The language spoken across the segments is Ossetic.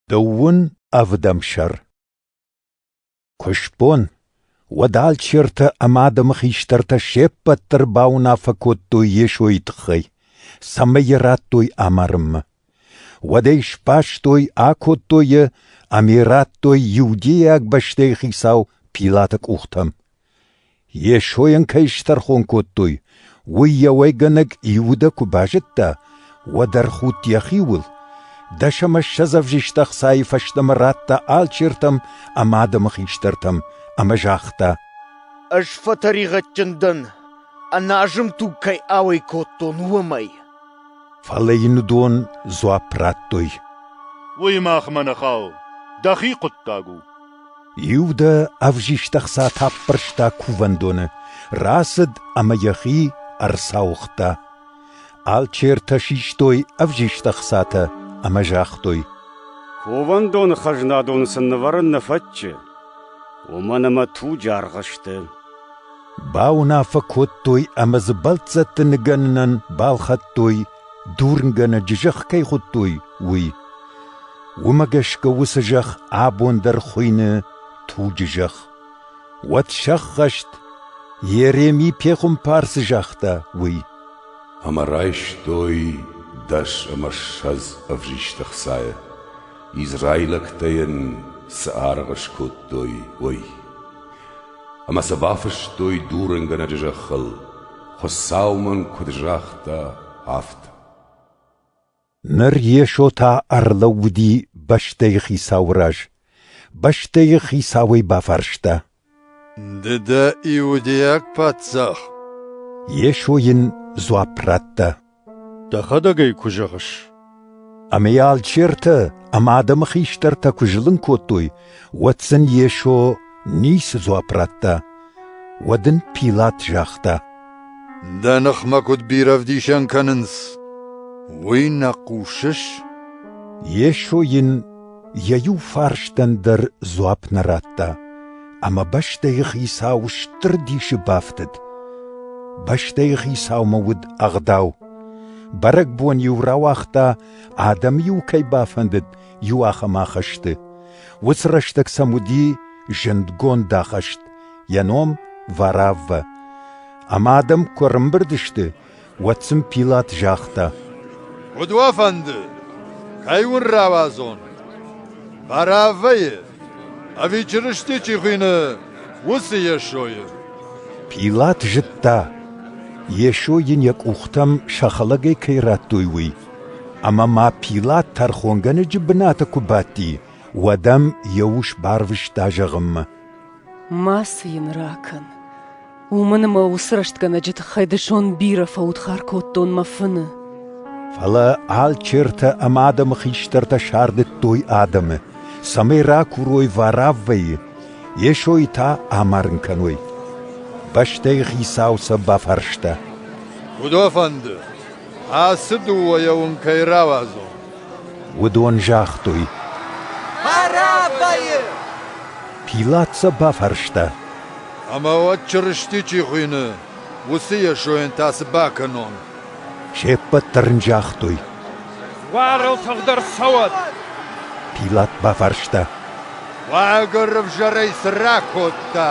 Дыууын ӕвдӕм сӕр Куыстбон уӕд алчертӕ ӕмӕ адӕмы хистӕртӕ се ппӕт дӕр бауынаффӕ кодтой Йесойы тыххӕй, цӕмӕй йӕ радтой амарынмӕ. Уӕд ӕй сбастой, акодтой йӕ ӕмӕ радтой иудейаг бӕстӕйы хицау Пилаты къухтӕм. Йесойӕн кӕй стӕрхон кодтой, уый йӕ уӕйгӕнӕг Иудӕ куы базыдта, уӕд ӕрхудт йӕхиуыл, дӕсӕмӕссӕдз ӕвзист ӕхцайы фӕстӕмӕ радта алчертӕм ӕмӕ адӕмы хистӕртӕм ӕмӕ загъта: «Ӕз фӕтӕригъӕдджын дӕн, ӕназым туг кӕй ауӕй кодтон, уымӕй». Фӕлӕ йын уыдон дзуапп радтой: «Уый махмӕ нӕ хауы, дӕхи хъуыддаг у». Иу дӕ ӕвзист ӕхца таппӕрста кувӕндоны, рацыд ӕмӕ йӕхи ӕрцауыгъта. Алчертӕ систой ӕвзист ӕхцатӕ ӕмӕ загътой: «Кувӕндоны хӕзнадоны сын нывӕрын нӕ фӕтчы, уымӕн ӕмӕ туджы аргъ сты». Бауынаффӕ кодтой ӕмӕ дзы бӕлццӕтты ныгӕнынӕн балхӕдтой Дурнгӕнӕджы зӕхх кӕй хуыдтой, уый. Уымӕ гӕсгӕ уыцы зӕхх абон дӕр хуыйны туджы зӕхх. Уӕд сӕххӕст, Ереми пехуымпарцы загъта, уый. Ӕмӕ райстой дӕс ӕмӕ ссӕдз ӕвзисты хцайы, израилӕгтӕ йын цы аргъ скодтой, уый. Ӕмӕ сӕ бафыстой дурынгӕнӕджы зӕххыл, Хуыцау мын куыд загъта, афтӕ. Ныр Йесо та ӕрлӕууыди бӕстӕйы хицауы раз. Бӕстӕйы хицауӕй бафарста. «Ды дӕ иудейаг паддзах?» Йесо йын дзуапп радта. Дӕхӕдӕг ӕй куы зӕгъыс. Ӕмӕ йӕ алчертӕ ӕмӕ адӕмы хистӕртӕ куы зылын кодтой, уӕд сын Йесо ницы дзуапп радта. Уӕд ын Пилат загъта: Дӕ ныхмӕ куыд бирӕ ӕвдисӕн кӕнынц, уый нӕ хъусыс? Йесо йын Йӕ иу фарстӕн дӕр дзуапп нӕ радта, ӕмӕ бӕстӕйы хицау стыр дисы бафтыд. Бӕстӕйы хицаумӕ уыд ӕгъдау. Бӕрӕгбон-иу рауагъта, адӕм-иу кӕй бафӕндыд, иу ахӕм ахӕсты. Уыцы рӕстӕг сӕм уыди зындгонд ахӕст, йӕ ном Варавва. Ӕмӕ адӕм куы ӕрымбырд сты, уӕд сын Пилат загъта: Куыд уӕ фӕнды, кӕй уын рауадзон? Бараввӕйы ӕви Чырысти чи хуыйны, уыцы Йесойы? Пилат зыдта, Йесо йын йӕ къухтӕм сӕхӕлӕгӕй кӕй радтой, уый. Ӕмӕ ма Пилат тӕрхонгӕнӕджы бынаты куы бадти, уӕд ӕм йӕ ус барвыста зӕгъынмӕ. Мацы йын ракӕн. Уымӕн ӕмӕ уыцы рӕстгӕнӕджы тыххӕй дысон бирӕ фӕудхар кодтон мӕ фыны. Фӕлӕ алчертӕ ӕмӕ адӕмы хистӕртӕ сардыдтой адӕмы, цӕмӕй ракурой вараввӕйы, Йесойы та амарын кӕной. Бӕстӕйы хицау сӕ бафарста. Куыдо фӕнды, ацы дыууӕйӕ уын кӕй рауадзон? Уыдон загътой: «Бӕрӕбайы!» Пилат сӕ бафарста: «Ӕмӕ уӕд Чырысти чи хуыйны, уыцы Йесойӕн та цы бакӕнон?» Се ппӕт дӕр ын загътой: «Уагыл тыгъд ӕрцӕуӕд!» Пилат бафарста: «Уагӕр ӕвзӕрӕй цы ракодта?»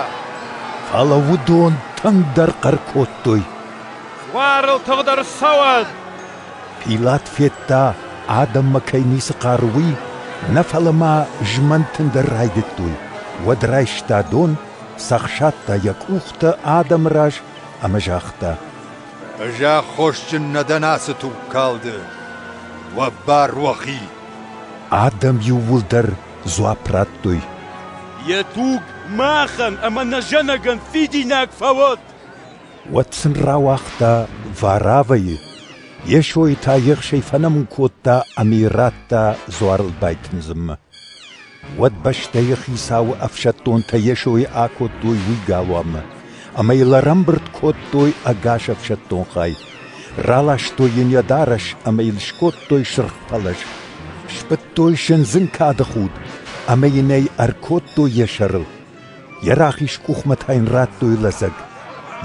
Фӕлӕ уыдон тынгдӕр хъӕр кодтой: «Уагыл тыгъд ӕрцӕуӕд!» Пилат федта, адӕммӕ кӕй ницы хъары, уый, нӕ фӕлӕ ма змӕнт ын дӕр райдыдтой, уӕд райста дон, цӕхсадта йӕ къухтӕ адӕмы раз ӕмӕ загъта: «Ӕз аххосджын нӕ дӕн ацы тугкалды. уӕ бар уӕхи!» Адӕм иууылдӕр дзуапп радтой: «Йӕ туг махӕн ӕмӕ нӕ зӕнӕгӕн фидинаг фӕуӕд!» уӕд сын рауагъта Варавайы, Йесойы та ехсӕй фӕнӕмун кодта ӕмӕ радта дзуарыл байтындзынмӕ. Уӕд бӕстӕйы хицауы ӕфсӕддонтӕ Йесойы акодтой уый галуанмӕ, ӕмӕ йыл ӕрӕмбырд кодтой ӕгас ӕфсӕддон хай. Раластой йын йӕ дарӕс ӕмӕ йыл скодтой сырх пӕлӕз. Сбыдтой сындзын кады худ ӕмӕ йын ӕй ӕркодтой йӕ сӕрыл. Йӕ рахиз къухмӕ та йын радтой лӕдзӕг.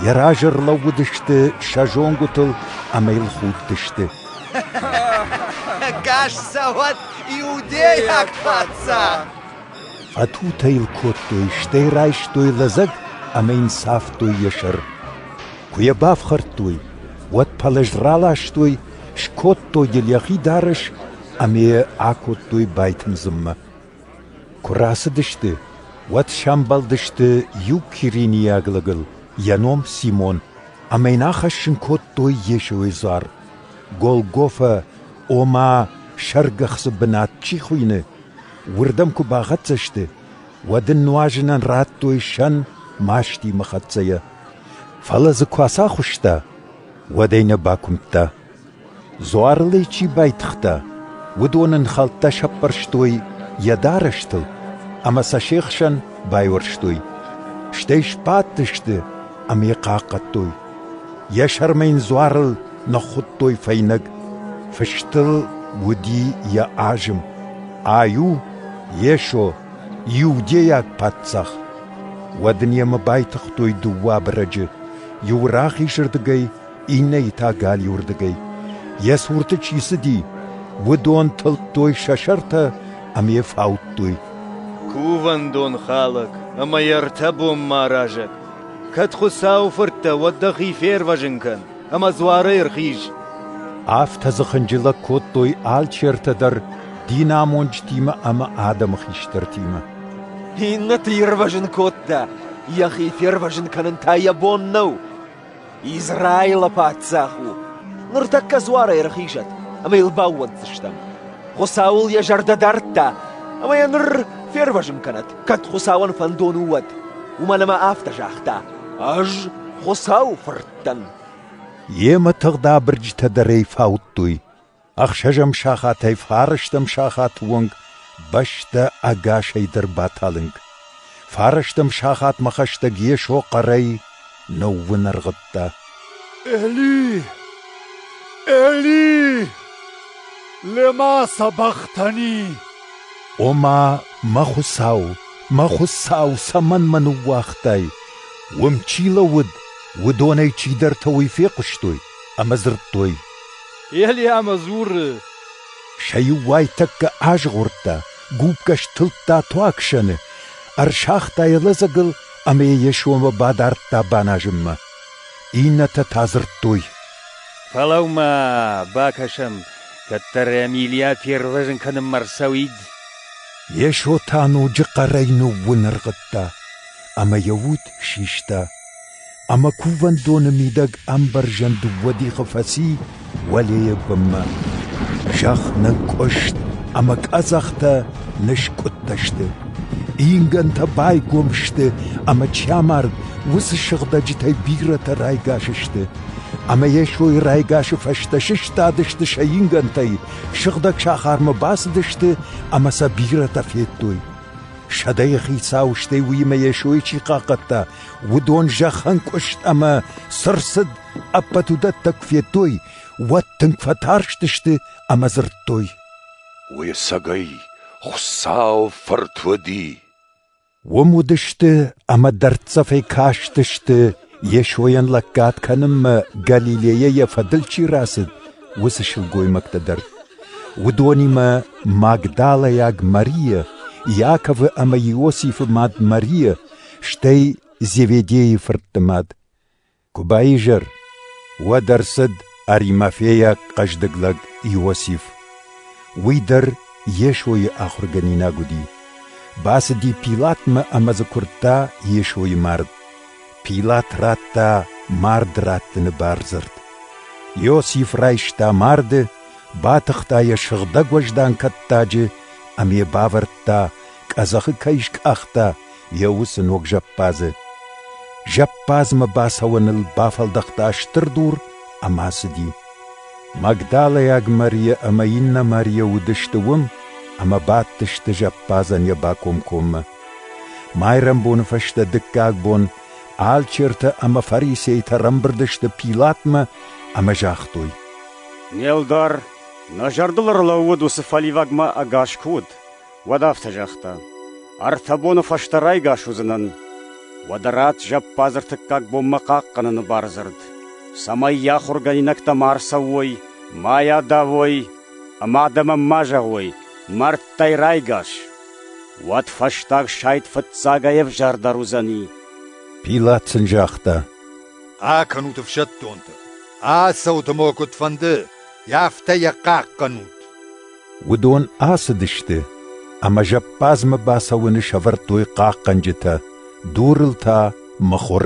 Йӕ разы ӕрлӕууыдысты сӕ зонгуытыл ӕмӕ йыл худтысты. Кассавод иудейаг паддзах! Фӕтутӕ йыл кодтой, стӕй райстой лӕдзӕг ӕмӕ йын цавтой йӕ сӕр. Куы йӕ бафхӕрдтой, уӕд пӕлӕз раластой, скодтой йыл йӕхи дарӕс ӕмӕ йӕ акодтой байтындзынмӕ. Куы рацыдысты, уӕд сӕмбӕлдысты иу киринийаг лӕгыл, йӕ ном Симон, ӕмӕ йын ахӕссын кодтой Йесойы дзуар. Голгофӕ, ома сӕргӕхцы бынат чи хуыйны, уырдӕм куы бахӕццӕ сты, уӕд ын нуазынӕн радтой сӕн мастимӕ хӕццӕйӕ. Фӕлӕ дзы куы ацахуыста, уӕд ӕй нӕ бакуымдта. Дзуарыл ӕй чи байтыгъта, уыдон ын хӕлттӕ сӕппӕрстой йӕ дарӕстыл ӕмӕ сӕ се хсӕн байуӕрстой, стӕй сбадтысты ӕмӕ йӕ хъахъхъӕдтой. Йӕ сӕрмӕ йын дзуарыл ныххуыдтой фӕйнӕг, фыстыл уыди йӕ азым: «Аю, Йесо, иудейаг паддзах!» Уӕд ын йемӕ байтыгътой дыууӕ абырӕджы, иу рахизырдыгӕй, иннӕйы та галиуырдыгӕй, йӕ цурты чи цыди, уыдон тылдтой сӕ сӕртӕ ӕмӕ йӕ фаудтой. Кувӕндон хӕлӕг ӕмӕ йӕ ӕртӕ бонмӕаразӕг, кӕд Хуыцауы фырттӕ, уӕд дӕхи фервӕзын кӕн ӕмӕ дзуарӕй ӕрхиз. Афтӕ дзы хынджылӕг кодтой алчи ӕртӕ дӕр динамонджытимӕ ӕмӕ адӕмы хистӕртимӕ. Иннӕты ирвӕзын кодта, йӕхи фервӕзын кӕнын та йӕ бон нӕу. Израилы паддзах у! Ныртӕккӕ дзуарӕй ӕрхизӕд, ӕмӕ йыл баууӕнддзыстӕм. Хуыцау ыл йӕ зӕрдӕ дардта, ӕмӕ йӕ ныр фервӕзын кӕнӕд, кӕд Хуыцауӕн фӕндон у, уӕд. Уымӕн ӕмӕ афтӕ загъта: «Ӕз Хуыцауы фырт дӕн». Йемӕ тыгъд абырджытӕ дӕр ӕй фаудтой. Ӕхсӕзӕм сахатӕй фарӕстӕм сахаты онг бӕстӕ ӕгасӕй дӕр баталынг. Фарӕстӕм сахатмӕ хӕстӕг Йесо хъӕрӕй ныууын ӕргъыдта. Эли, Эли, лема сабахтани? Ома, мӕ Хуыцау, мӕ Хуыцау, цӕмӕн мӕ ныууагътай? Уым чи лӕууыд, уыдонӕй чидӕртӕ уый фехъуыстой ӕмӕ дзырдтой: Елиамӕ дзуры: Сӕ иу уайтӕккӕ азгъордта, гупгӕ стылдта туагсӕны, ӕрсагъта йӕ лӕдзӕгыл ӕмӕ йӕ сомы бадардта баназынмӕ. Иннӕтӕ та дзырдтой: «Фӕлӕуу-ма, бакӕсӕм, кӕддӕр Эмилийӕ фервӕзын кӕнынмӕ рцӕуид». Йесо та ноджы хъӕрӕй ныууынӕргъыдта, ӕмӕ йӕ уд систа. ӕмӕ кувӕндоны мидӕг ӕмбӕрзӕн дыууӕ дихы фӕци уӕлейы бынмӕ. Зӕхх нынкъуыст ӕмӕ къӕдзӕхтӕ ныскъуыдтӕ сты. Ингӕнтӕ байгом сты ӕмӕ чамард уыцы сыгъдӕджытӕй бирӕтӕ райгас сты. Ӕмӕ Йесойы райгасы фӕстӕ сыстадысты сӕ ингӕнтӕй, сыгъдӕг сахармӕ бацыдысты ӕмӕ сӕ бирӕтӕ федтой. Сӕдӕйы хицау стӕй уыимӕ Йесойы чи хъахъхъӕдта, Уыдон зӕххӕнкъуыст ӕмӕ сырсыд ӕппӕт уыдӕттӕ куы федтой, уӕд тынг фӕтарстысты ӕмӕ дзырдтой. Уыцӕгӕй Хуыцау фырт уыди. Уым уыдысты ӕмӕ дӕрддзӕфӕй кастысты, Йесойӕн лӕггад кӕнынмӕ Галилейӕ йӕ фӕдыл чи рацыд, уыцы сылгоймӕгтӕ дӕр. Уыдонимӕ Магдалӕйаг Марийӕ, Иаковы ӕмӕ Иосифы мад Марийӕ, стӕй Зеведейы фыртты мад. Куы баизӕр, уӕд ӕрцыд Аримафейаг хъӕздыг лӕг Иосиф. Уый дӕр Йесойы ахуыргӕнинаг уыди. Бацыди Пилатмӕ ӕмӕ дзы куырдта Йесойы мард. Пилат радта мард раттыны бардзырд. Иосиф райста марды, батыхта йӕ сыгъдӕг уӕздан кӕттаджы ӕмӕ йӕ бавӕрдта къӕдзӕхы кӕй скъахта йӕ уыцы ног зӕппадзы. Зӕппадзмӕ бацӕуӕныл бафӕлдӕхта стыр дур ӕмӕ ацыди. Магдалайаг Мария ӕмӕ иннӕ Мария уыдысты уым ӕмӕ бадтысты зӕппадзӕн йӕ бакомкоммӕ. Майрӕмбоны фӕстӕ дыккаг бон алчертӕ ӕмӕ фарисейтӕ рамбырд сты Пилатмӕ ӕмӕ загътой: «Не лдар, нӕ зӕрдыл ӕрлӕууыд уыцы фӕливагмӕ ӕгас куы уыд, Уӕд афтӕ загъта: Ӕртӕ боны фӕстӕ райгас уыдзынӕн. Уӕдӕ ратт зӕппадзы ӕртыккаг бонмӕ хъахъхъӕныны бардзырд, цӕмӕй йӕ ахуыргӕнинӕгтӕ ма ӕрцӕуой, ма йӕ адавой ӕмӕ адӕмӕн ма зӕгъой: «Мӕрдтӕй райгас!» Уӕд фӕстаг сайд фыццагӕй ӕвзӕрдӕр уыдзӕни. Пилат сын загъта: Акӕнут ӕфсӕддонтӕ, ацӕут ӕмӕ куыдфӕнды, афтӕ йӕ хъахъхъӕнут. Уыдон ацыдысты ӕмӕ зӕппадзмӕ бацӕуыны сӕвӕрдтой хъахъхъӕнджытӕ, дурыл та мыхуыр.